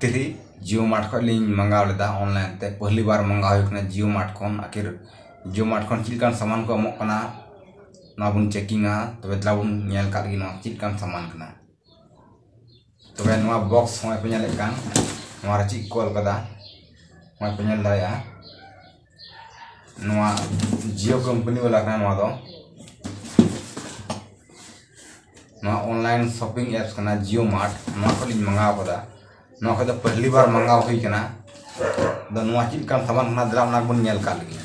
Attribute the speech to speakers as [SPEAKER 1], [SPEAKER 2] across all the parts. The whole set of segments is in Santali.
[SPEAKER 1] ᱛᱤᱨᱤ ᱡᱤᱭᱳ ᱢᱟᱨᱴ ᱠᱷᱚᱱ ᱞᱤᱧ ᱢᱟᱜᱟᱣ ᱞᱮᱫᱟ ᱚᱱᱞᱟᱭᱤᱱ ᱛᱮ ᱯᱚᱦᱞᱤ ᱵᱟᱨ ᱢᱟᱜᱟᱣ ᱦᱩᱭ ᱠᱟᱱᱟ ᱡᱤᱭᱳ ᱢᱟᱨᱴ ᱠᱷᱚᱱ ᱟᱠᱷᱤᱨ ᱡᱤᱭᱳ ᱢᱟᱨᱴ ᱠᱷᱚᱱ ᱪᱮᱫ ᱞᱮᱠᱟᱱ ᱥᱟᱢᱟᱱ ᱠᱚ ᱮᱢᱚᱜ ᱠᱟᱱᱟ ᱚᱱᱟ ᱵᱚᱱ ᱪᱮᱠᱤᱝᱼᱟ ᱛᱚᱵᱮ ᱫᱮᱞᱟ ᱵᱚᱱ ᱧᱮᱞ ᱠᱟᱜ ᱜᱮ ᱱᱚᱣᱟ ᱪᱮᱫ ᱞᱮᱠᱟᱱ ᱥᱟᱢᱟᱱ ᱠᱟᱱᱟ ᱛᱚᱵᱮ ᱱᱚᱣᱟ ᱵᱚᱠᱥ ᱦᱚᱸᱜᱼᱚᱭ ᱯᱮ ᱧᱮᱞᱮᱫ ᱠᱟᱱ ᱱᱚᱣᱟ ᱨᱮ ᱪᱮᱫ ᱠᱚ ᱚᱞ ᱠᱟᱫᱟ ᱱᱚᱜᱼᱚᱭ ᱯᱮ ᱧᱮᱞ ᱫᱟᱲᱮᱭᱟᱜᱼᱟ ᱱᱚᱣᱟ ᱡᱤᱭᱳ ᱠᱳᱢᱯᱟᱱᱤ ᱵᱟᱞᱟ ᱠᱟᱱᱟ ᱱᱚᱣᱟ ᱫᱚ ᱱᱚᱣᱟ ᱚᱱᱞᱟᱭᱤᱱ ᱥᱚᱯᱤᱝ ᱮᱯᱥ ᱠᱟᱱᱟ ᱡᱤᱭᱳ ᱢᱟᱨᱴ ᱱᱚᱣᱟ ᱠᱷᱚᱱ ᱤᱧ ᱢᱟᱜᱟᱣ ᱠᱟᱫᱟ ᱱᱚᱣᱟ ᱠᱷᱚᱱ ᱫᱚ ᱯᱟᱹᱦᱞᱤ ᱵᱟᱨ ᱢᱟᱜᱟᱣ ᱦᱩᱭ ᱠᱟᱱᱟ ᱟᱫᱚ ᱱᱚᱣᱟ ᱪᱮᱫ ᱞᱮᱠᱟᱱ ᱥᱟᱢᱟᱱ ᱠᱟᱱᱟ ᱫᱮᱞᱟ ᱚᱱᱟ ᱜᱮᱵᱚᱱ ᱧᱮᱞ ᱠᱟᱜ ᱞᱮᱜᱮ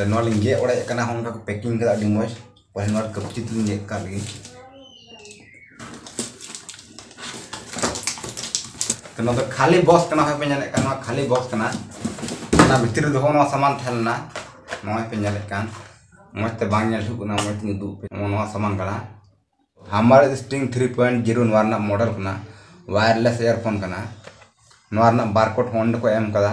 [SPEAKER 1] ᱱᱚᱣᱟ ᱞᱤᱧ ᱜᱮᱫ ᱚᱲᱮᱡ ᱠᱟᱱᱟ ᱱᱚᱜᱼᱚᱭ ᱱᱚᱝᱠᱟ ᱠᱚ ᱯᱮᱠᱤᱝ ᱠᱟᱫᱟ ᱟᱹᱰᱤ ᱢᱚᱡᱽ ᱯᱟᱹᱦᱤᱞ ᱵᱟᱨ ᱠᱟᱹᱯᱪᱤ ᱛᱮᱞᱤᱧ ᱜᱮᱫ ᱠᱟᱜ ᱞᱮᱜᱮ ᱛᱚ ᱱᱚᱣᱟ ᱫᱚ ᱠᱷᱟᱹᱞᱤ ᱵᱚᱠᱥ ᱠᱟᱱᱟ ᱦᱚᱭ ᱯᱮ ᱧᱮᱞᱮᱫ ᱠᱟᱱ ᱱᱚᱣᱟ ᱠᱷᱟᱹᱞᱤ ᱵᱚᱠᱥ ᱠᱟᱱᱟ ᱚᱱᱟ ᱵᱷᱤᱛᱨᱤ ᱨᱮ ᱫᱚᱦᱚ ᱱᱚᱣᱟ ᱥᱟᱢᱟᱱ ᱛᱟᱦᱮᱸ ᱞᱮᱱᱟ ᱱᱚᱜᱼᱚᱭ ᱯᱮ ᱧᱮᱞᱮᱫ ᱠᱟᱱ ᱢᱚᱡᱽ ᱛᱮ ᱵᱟᱝ ᱧᱮᱞ ᱦᱩᱭᱩᱜ ᱠᱟᱱᱟ ᱢᱚᱡᱽ ᱛᱤᱧ ᱩᱫᱩᱜ ᱯᱮ ᱱᱚᱣᱟ ᱥᱟᱢᱟᱱ ᱠᱟᱱᱟ ᱦᱟᱢᱟᱨ ᱥᱴᱤᱝ ᱛᱷᱨᱤ ᱯᱚᱭᱮᱱᱴ ᱡᱤᱨᱳ ᱱᱚᱣᱟ ᱨᱮᱱᱟᱜ ᱢᱚᱰᱮᱞ ᱠᱟᱱᱟ ᱣᱟᱭᱟᱨᱞᱮᱥ ᱤᱭᱟᱨᱯᱷᱳᱱ ᱠᱟᱱᱟ ᱱᱚᱣᱟ ᱨᱮᱱᱟᱜ ᱵᱟᱨᱠᱳᱰ ᱦᱚᱸ ᱚᱸᱰᱮ ᱠᱚ ᱮᱢ ᱠᱟᱫᱟ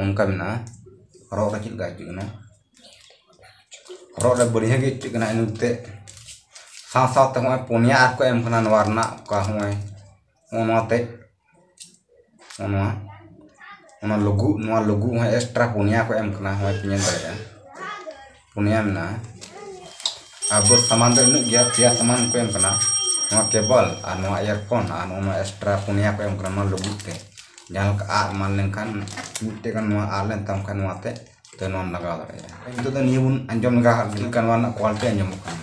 [SPEAKER 1] ᱚᱱᱠᱟ ᱢᱮᱱᱟᱜᱼᱟ ᱦᱚᱨᱚᱜ ᱨᱮ ᱪᱮᱫ ᱞᱮᱠᱟ ᱟᱹᱭᱠᱟᱹᱜ ᱠᱟᱱᱟ ᱦᱚᱨᱚᱜ ᱨᱮ ᱵᱟᱹᱲᱤᱡᱟᱜ ᱜᱮ ᱟᱹᱭᱠᱟᱹᱜ ᱠᱟᱱᱟ ᱮᱱᱛᱮᱜ ᱥᱟᱶ ᱥᱟᱶᱛᱮ ᱱᱚᱜᱼᱚᱭ ᱯᱳᱱᱭᱟ ᱟᱨ ᱠᱚ ᱮᱢ ᱠᱟᱱᱟ ᱱᱚᱣᱟ ᱨᱮᱱᱟᱜ ᱚᱠᱟ ᱱᱚᱜᱼᱚᱭ ᱱᱚᱜᱼᱚ ᱱᱚᱣᱟ ᱛᱮᱜ ᱱᱚᱜᱼᱚ ᱱᱚᱣᱟ ᱚᱱᱟ ᱞᱩᱜᱩ ᱱᱚᱣᱟ ᱞᱩᱜᱩ ᱦᱚᱸ ᱮᱠᱥᱴᱨᱟ ᱯᱳᱱᱭᱟ ᱠᱚ ᱮᱢ ᱠᱟᱱᱟ ᱱᱚᱜᱼᱚᱭ ᱯᱮ ᱧᱮᱞ ᱫᱟᱲᱮᱭᱟᱜᱼᱟ ᱯᱩᱱᱭᱟ ᱢᱮᱱᱟᱜᱼᱟ ᱟᱨ ᱵᱚᱥ ᱥᱟᱢᱟᱱ ᱫᱚ ᱤᱱᱟᱹᱜ ᱜᱮᱭᱟ ᱯᱮᱭᱟ ᱥᱟᱢᱟᱱ ᱠᱚ ᱮᱢ ᱠᱟᱱᱟ ᱱᱚᱣᱟ ᱠᱮᱵᱚᱞ ᱟᱨ ᱱᱚᱣᱟ ᱤᱭᱟᱨᱯᱷᱳᱱ ᱟᱨ ᱱᱚᱣᱟ ᱮᱠᱥᱴᱨᱟ ᱯᱩᱱᱭᱟ ᱠᱚ ᱮᱢ ᱠᱟᱱᱟ ᱱᱚᱣᱟ ᱞᱩᱜᱩᱫ ᱛᱮ ᱡᱟᱦᱟᱸ ᱞᱮᱠᱟ ᱟᱫ ᱮᱢᱟᱱ ᱞᱮᱱᱠᱷᱟᱱ ᱢᱤᱫᱴᱮᱡ ᱜᱟᱱ ᱱᱚᱣᱟ ᱟᱫ ᱞᱮᱱ ᱛᱟᱢ ᱠᱷᱟᱱ ᱱᱚᱣᱟᱛᱮ ᱛᱚ ᱱᱚᱣᱟᱢ ᱞᱟᱜᱟᱣ ᱫᱟᱲᱮᱭᱟᱜᱼᱟ ᱱᱤᱛᱚᱜ ᱫᱚ ᱱᱤᱭᱟᱹ ᱵᱚᱱ ᱟᱸᱡᱚᱢ ᱞᱮᱜᱟ ᱦᱟᱜ ᱞᱮᱜᱮ ᱪᱮᱫ ᱞᱮᱠᱟ ᱱᱚᱣᱟ ᱨᱮᱱᱟᱜ ᱠᱚᱣᱟᱞᱤᱴᱤ ᱟᱸᱡᱚᱢᱚᱜ ᱠᱟᱱᱟ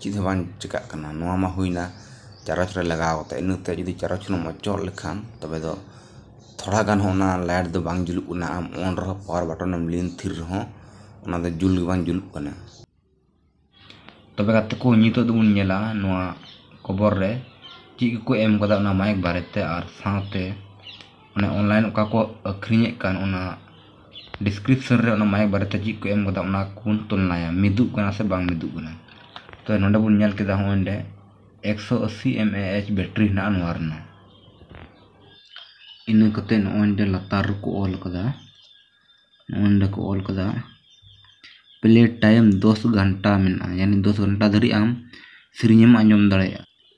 [SPEAKER 1] ᱪᱮᱫ ᱦᱚᱸ ᱵᱟᱝ ᱪᱤᱠᱟᱹᱜ ᱠᱟᱱᱟ ᱱᱚᱣᱟ ᱢᱟ ᱦᱩᱭᱮᱱᱟ ᱪᱟᱨᱚᱪ ᱨᱮ ᱞᱟᱜᱟᱣ ᱠᱟᱛᱮ ᱤᱱᱟᱹ ᱛᱮ ᱡᱩᱫᱤ ᱪᱟᱨᱚᱪ ᱨᱮᱢ ᱚᱪᱚᱜ ᱞᱮᱠᱷᱟᱱ ᱛᱚᱵᱮ ᱫᱚ ᱛᱷᱚᱲᱟ ᱜᱟᱱ ᱦᱚᱸ ᱚᱱᱟ ᱞᱟᱭᱤᱴ ᱫᱚ ᱵᱟᱝ ᱡᱩᱞᱩᱜ ᱠᱟᱱᱟ ᱟᱢ ᱚᱱ ᱨᱮᱦᱚᱸ ᱯᱟᱣᱟᱨ ᱵᱟᱴᱚᱱ ᱮᱢ ᱞᱤᱱ ᱛᱷᱤᱨ ᱨᱮᱦᱚᱸ ᱚᱱᱟ ᱫᱚ ᱡᱩᱞ ᱜᱮ ᱵᱟᱝ ᱡᱩᱞᱩᱜ ᱠᱟᱱᱟ ᱛᱚᱵᱮ ᱜᱟᱛᱮ ᱠᱚ ᱱᱤᱛᱚᱜ ᱫᱚᱵᱚᱱ ᱧᱮᱞᱟ ᱱᱚᱣᱟ ᱠᱷᱚᱵᱚᱨ ᱨᱮ ᱪᱮᱫ ᱠᱚᱠᱚ ᱮᱢ ᱠᱟᱫᱟ ᱚᱱᱟ ᱢᱟᱭᱤᱠ ᱵᱟᱨᱮᱛᱮ ᱟᱨ ᱥᱟᱶᱛᱮ ᱚᱱᱮ ᱚᱱᱞᱟᱭᱤᱱ ᱚᱠᱟ ᱠᱚ ᱟᱹᱠᱷᱨᱤᱧᱮᱫ ᱠᱟᱱ ᱚᱱᱟ ᱰᱤᱥᱠᱨᱤᱯᱥᱚᱱ ᱨᱮ ᱚᱱᱟ ᱢᱟᱭᱤᱠ ᱵᱟᱨᱮᱛᱮ ᱪᱮᱫ ᱠᱚ ᱮᱢ ᱠᱟᱫᱟ ᱚᱱᱟ ᱠᱚᱵᱚᱱ ᱛᱩᱞᱱᱟᱭᱟ ᱢᱤᱫᱚᱜ ᱠᱟᱱᱟ ᱥᱮ ᱵᱟᱝ ᱢᱤᱫᱚᱜ ᱠᱟᱱᱟ ᱛᱚ ᱱᱚᱰᱮ ᱵᱚᱱ ᱧᱮᱞ ᱠᱮᱫᱟ ᱦᱚᱸᱜᱼᱚᱭ ᱱᱚᱰᱮ ᱮᱠᱥᱚ ᱟᱹᱥᱤ ᱮᱢ ᱮ ᱮᱭᱤᱪ ᱵᱮᱴᱨᱤ ᱦᱮᱱᱟᱜᱼᱟ ᱱᱚᱣᱟ ᱨᱮᱱᱟᱜ ᱤᱱᱟᱹ ᱠᱟᱛᱮ ᱱᱚᱜᱼᱚᱭ ᱱᱚᱰᱮ ᱞᱟᱛᱟᱨ ᱨᱮᱠᱚ ᱚᱞ ᱠᱟᱫᱟ ᱱᱚᱜᱼᱚᱭ ᱱᱚᱰᱮ ᱠᱚ ᱚᱞ ᱠᱟᱫᱟ ᱯᱞᱮ ᱴᱟᱭᱤᱢ ᱫᱚᱥ ᱜᱷᱚᱱᱴᱟ ᱢᱮᱱᱟᱜᱼᱟ ᱭᱟᱱᱤ ᱫᱚᱥ ᱜᱷᱚᱱᱴᱟ ᱫᱷᱟᱹᱨᱤᱡ ᱟᱢ ᱥᱮᱨᱮᱧᱮᱢ ᱟᱸᱡᱚᱢ ᱫᱟᱲᱮᱭᱟᱜᱼᱟ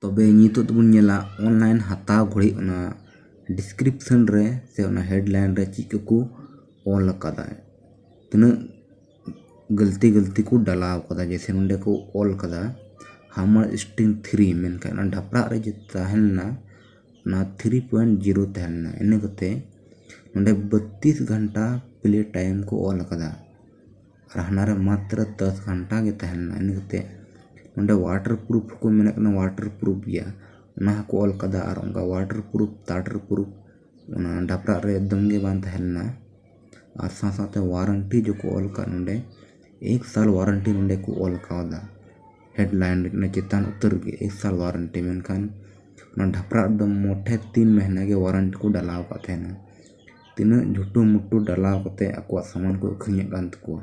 [SPEAKER 1] ᱛᱚᱵᱮ ᱱᱤᱛᱚᱜ ᱫᱚᱵᱚᱱ ᱧᱮᱞᱟ ᱚᱱᱞᱟᱭᱤᱱ ᱦᱟᱛᱟᱣ ᱜᱷᱟᱹᱲᱤ ᱚᱱᱟ ᱰᱤᱥᱠᱨᱤᱯᱥᱮᱱ ᱨᱮ ᱥᱮ ᱚᱱᱟ ᱦᱮᱰ ᱞᱟᱭᱤᱱ ᱨᱮ ᱪᱮᱫ ᱠᱚᱠᱚ ᱚᱞ ᱟᱠᱟᱫᱟ ᱛᱤᱱᱟᱹᱜ ᱜᱟᱹᱞᱛᱤ ᱜᱟᱹᱞᱛᱤ ᱠᱚ ᱰᱟᱞᱟᱣ ᱟᱠᱟᱫᱟ ᱡᱮᱭᱥᱮ ᱱᱚᱰᱮ ᱠᱚ ᱚᱞ ᱟᱠᱟᱫᱟ ᱦᱟᱣ ᱢᱟᱪ ᱤᱥᱴᱤᱝ ᱯᱷᱨᱤ ᱢᱮᱱᱠᱷᱟᱱ ᱚᱱᱟ ᱰᱷᱟᱯᱨᱟᱜ ᱨᱮ ᱡᱮ ᱛᱟᱦᱮᱸ ᱞᱮᱱᱟ ᱚᱱᱟ ᱛᱷᱨᱤ ᱯᱚᱭᱮᱱᱴ ᱡᱤᱨᱳ ᱛᱟᱦᱮᱸ ᱞᱮᱱᱟ ᱤᱱᱟᱹ ᱠᱟᱛᱮ ᱱᱚᱰᱮ ᱵᱚᱛᱛᱨᱤᱥ ᱜᱷᱚᱱᱴᱟ ᱯᱞᱮ ᱴᱟᱭᱤᱢ ᱠᱚ ᱚᱞ ᱟᱠᱟᱫᱟ ᱟᱨ ᱦᱟᱱᱟ ᱨᱮ ᱢᱟᱛᱨᱚ ᱫᱚᱥ ᱜᱷᱚᱱᱴᱟ ᱜᱮ ᱛᱟᱦᱮᱸ ᱞᱮᱱᱟ ᱤᱱᱟᱹ ᱠᱟᱛᱮᱫ ᱚᱸᱰᱮ ᱚᱣᱟᱴᱟᱨ ᱯᱨᱩᱯᱷ ᱠᱚ ᱢᱮᱱᱮᱫ ᱠᱟᱱᱟ ᱚᱣᱟᱴᱟᱨ ᱯᱨᱩᱯᱷ ᱜᱮᱭᱟ ᱚᱱᱟ ᱦᱚᱸᱠᱚ ᱚᱞ ᱠᱟᱫᱟ ᱟᱨ ᱚᱱᱠᱟ ᱚᱣᱟᱴᱟᱨ ᱯᱨᱩᱯᱷ ᱛᱟᱴᱟᱨ ᱯᱨᱩᱯᱷ ᱚᱱᱟ ᱰᱟᱯᱨᱟᱜ ᱨᱮ ᱮᱠᱫᱚᱢ ᱜᱮ ᱵᱟᱝ ᱛᱟᱦᱮᱸ ᱞᱮᱱᱟ ᱟᱨ ᱥᱟᱶ ᱥᱟᱶᱛᱮ ᱚᱣᱟᱨᱮᱱᱴᱤ ᱡᱚᱠᱷᱚ ᱚᱞ ᱠᱟᱜ ᱱᱚᱰᱮ ᱮᱠ ᱥᱟᱞ ᱚᱣᱟᱨᱮᱱᱴᱤ ᱱᱚᱰᱮ ᱠᱚ ᱚᱞ ᱠᱟᱣᱫᱟ ᱦᱮᱰ ᱞᱟᱭᱤᱱ ᱨᱮ ᱚᱱᱟ ᱪᱮᱛᱟᱱ ᱩᱛᱟᱹᱨ ᱜᱮ ᱮᱠ ᱥᱟᱞ ᱚᱣᱟᱨᱮᱱᱴᱤ ᱢᱮᱱᱠᱷᱟᱱ ᱚᱱᱟ ᱰᱷᱟᱯᱨᱟᱜ ᱨᱮᱫᱚ ᱢᱚᱴᱷᱮ ᱛᱤᱱ ᱢᱟᱹᱦᱱᱟᱹ ᱜᱮ ᱚᱣᱟᱨᱮᱱᱴᱤ ᱠᱚ ᱰᱟᱞᱟᱣ ᱠᱟᱜ ᱛᱟᱦᱮᱱᱟ ᱛᱤᱱᱟᱹᱜ ᱞᱩᱴᱩ ᱢᱩᱴᱩ ᱰᱟᱞᱟᱣ ᱠᱟᱛᱮᱫ ᱟᱠᱚᱣᱟᱜ ᱥᱟᱢᱟᱱ ᱠᱚ ᱟᱹᱠᱷᱨᱤᱧᱮᱫ ᱠᱟᱱ ᱛᱟᱠᱚᱣᱟ